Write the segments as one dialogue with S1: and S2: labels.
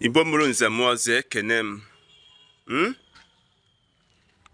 S1: igbo mụrụ nze mụọ ọzọ ekene m hmm?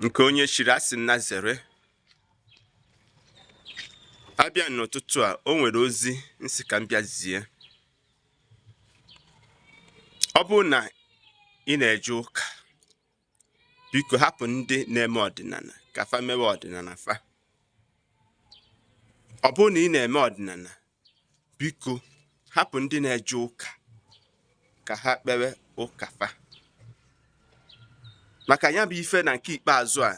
S1: nke onye chiri asị nya zere abịa n'ụtụtụ a o nwere ozi m sị ka m bịa zie ọ bụrụ na ị na-eje ụka biko hapụ ndị na-eme ọdịnala ka fa mewe ọdịnala fa ọ bụrụ na ị na-eme ọdịnala biko hapụ ndị na-eje ụka ka ha kpewe ụka fa maka ya bụ ife na nke ikpeazụ a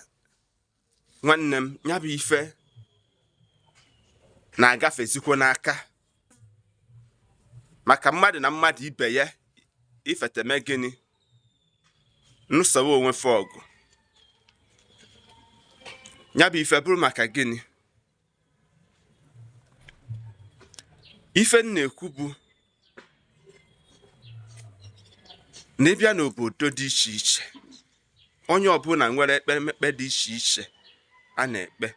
S1: nwanne m ya bụ ife na-agafezikwo n'aka maka mmadụ na mmadụ ibe ya ifete me gịnị nụsowe onwe fe ọgụ ya bụ ife bụrụ maka gịnị ife m na-ekwu bụ na ị bịa n'obodo dị iche iche onye ọbụla nwere ekpemekpe dị iche iche a na-ekpe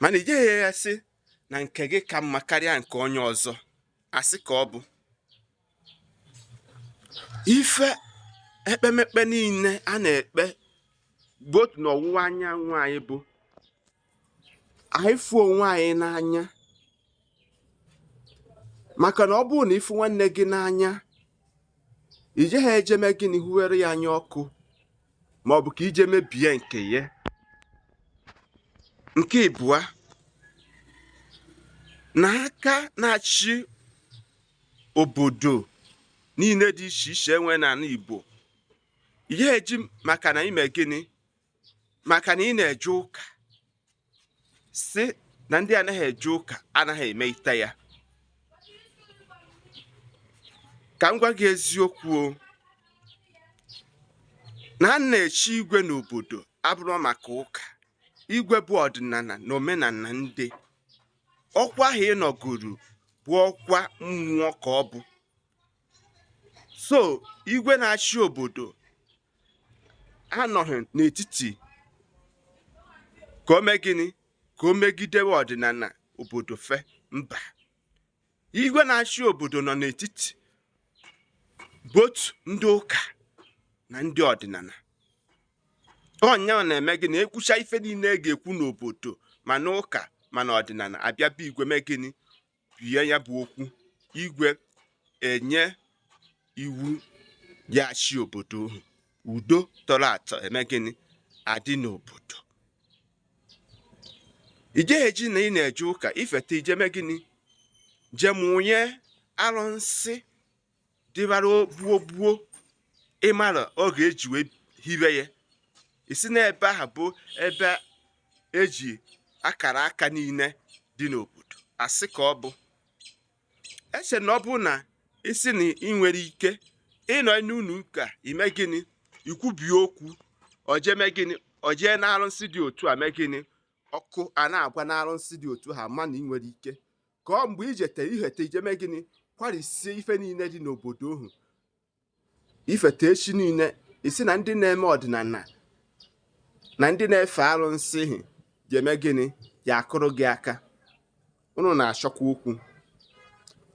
S1: mana i jeghị asị na nke gị ka mma karịa nke onye ọzọ asị ka ọ bụ ife ekpemekpe niile a na-ekpe both n'ọwụwa anyanwụ anyị bụ anyị fụ onwe anyị n'anya maka na ọ bụrụ na ị fụ nwanne gị n'anya i jeghị eje me gịnị huwere ya anya ọkụ ma ọ bụ ka i je mebie nke ya nke ịbụa na aka na-achị obodo niile dị iche iche e nwe n'ala Igbo i jeghị eji maka na i me gịnị maka na ị na-eje ụka sị na ndị anaghị eje ụka anaghị emete ya ka m gwa gị eziokwu o na a na-echi igwe n'obodo abụrọ maka ụka igwe bụ ọdịnala na omenala ndị ọkwa ahụ ị nọgoro bụ ọkwa mmụọ ka ọ bụ so igwe na-achị obodo anọghị n'etiti ka o mee gịnị ka o megidewe ọdịnala obodo fe mba igwe na-achị obodo nọ n'etiti both ndị ụka na ndị ọdịnala ọ yanwa na-eme gịnị ekwucha ife niile e ga-ekwu n'obodo ma n'ụka ma n'ọdịnala abịa be igwe mee gịnị bie ya bụ okwu igwe enye iwu ya achị obodo ohu udo tọrọ atọ eme gịnị adị n'obodo i jeghị eji na ị na-eje ụka ifeta ije mee gịnị je mụnye arụsị dịbara gboo gboo ịmara oge eji wee hibe ya ị sị na ebe ahụ bụ ebe eji akara aka niile dị n'obodo asị ka ọ bụ eche na ọ bụ na ị sị na ị nwere ike ịnọ n'ụlọ ụka ime gịnị ikwubie okwu oje mee gịnị ojee n'arụsị dị otu a mee gịnị ọkụ a na-agwa n'arụsị dị otu a mana ị nwere ike ka ọ mgbe ijete ihete ije mee gịnị kwarisie ife niile dị n'obodo ohu ifete echi niile ị sị na ndị na-eme ọdịnala na ndị na-efe arụsị hi ga-eme gịnị ya akụrụ gị aka unu na-achọkwa okwu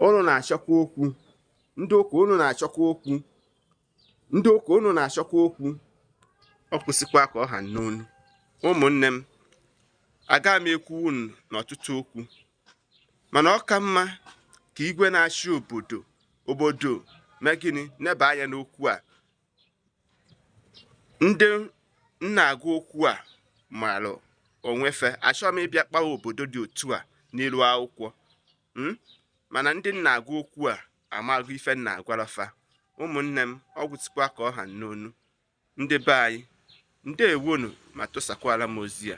S1: unu na-achọkwa okwu ndị ụka unu na-achọkwa okwu ndị ụka unu na-achọkwa okwu ọ gwụsịkwa ka ọ ha n'ọnụ ụmụnne m aga m ekwu unu n'ọtụtụ okwu mana ọ ka mma ka igwe na-achị obodo obodo mee gịnị neba anya n'okwu a ndị m na-agwa okwu a maara onwe fe achọghị m ịbịa kpawa obodo dị otu a n'ilu akwụkwọ hmm? mana ndị m na-agwa okwu a amago ife m na-agwara fa ụmụnne m ọ gwụsịkwa ka ọ ha n'ọnụ ndị be anyị ndewonu ma tụsakwara m ozi a